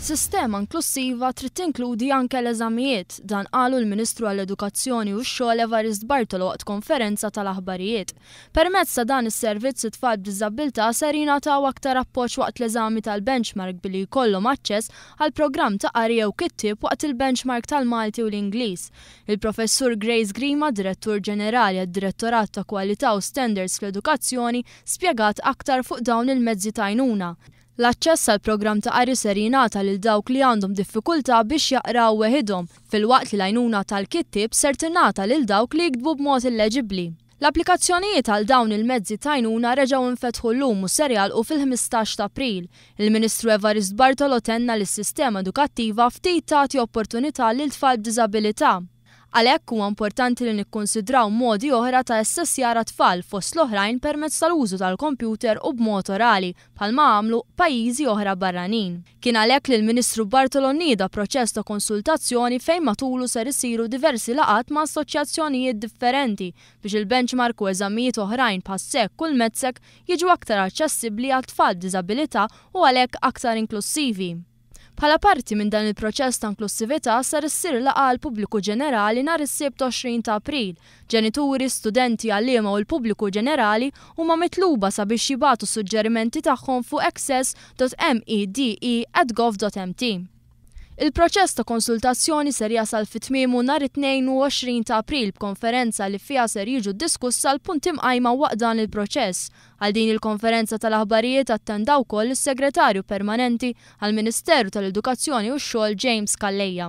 Sistema inklussiva trid tinkludi anke l-eżamijiet, dan qalu l-Ministru għall-Edukazzjoni u x-Xogħol Evarist Bartolo waqt konferenza tal-aħbarijiet. Permezz ta' dan is-servizz it-tfal b'diżabbiltà ser jingħataw aktar appoġġ waqt l-eżami tal-benchmark billi jkollhom aċċess għal programm ta' qari jew kittieb waqt il-benchmark tal-Malti u l-Ingliż. Il-Professur Grace Grima, Direttur Ġenerali għad-Direttorat ta' Kwalità u Standards fl-Edukazzjoni, spjegat aktar fuq dawn il-mezzi t'għajnuna. L-aċċess għall-programm ta' qari ser jingħata lil dawk li għandhom diffikultà biex jaqraw weħidhom, filwaqt li l-għajnuna tal-kittieb ser tingħata lil dawk li jiktbu b'mod illeġibbli. L-applikazzjonijiet għal dawn il-mezzi t'għajnuna reġgħu nfetħu llum u ser jagħlqu fil-ħmistax t'April. Il-Ministru Evarist Bartolo tenna li s-sistema edukattiva ftit tagħti opportunità lil tfal b'diżabilità. Għalhekk huwa importanti li nikkunsidraw modi oħra ta' assessjar għat-tfal, fost l-oħrajn permezz tal-użu tal-kompjuter u b'mod orali, bħalma għamlu pajjiżi oħra barranin. Kien għalhekk li l-Ministru Bartolo nieda proċess ta' konsultazzjoni fejn matulu ser isiru diversi laqgħat ma' assoċjazzjonijiet differenti biex il-benchmark u eżamijiet oħrajn bħas-SEC u l-MEDSEC jiġu aktar aċċessibbli għat-tfal b'diżabilità u għalhekk aktar inklussivi. Bħala parti minn dan il-proċess ta' inklussività ser issir laqgħa għall-pubbliku ġenerali nhar is-Sibt 20 ta' April. Ġenituri, studenti, għalliema u l-pubbliku ġenerali huma mitluba sabiex jibagħtu suġġerimenti tagħhom fuq access.mede@gov.mt. Il-proċess ta' konsultazzjoni ser jasal fi tmiemu nhar it-22 ta' April b'konferenza li fiha ser jiġu diskussa l-punti mqajma waqt dan il-proċess Għal din il-konferenza tal-aħbarijiet attenda wkoll is-Segretarju Permanenti għall-Ministeru tal-Edukazzjoni u x-Xogħol James Calleja.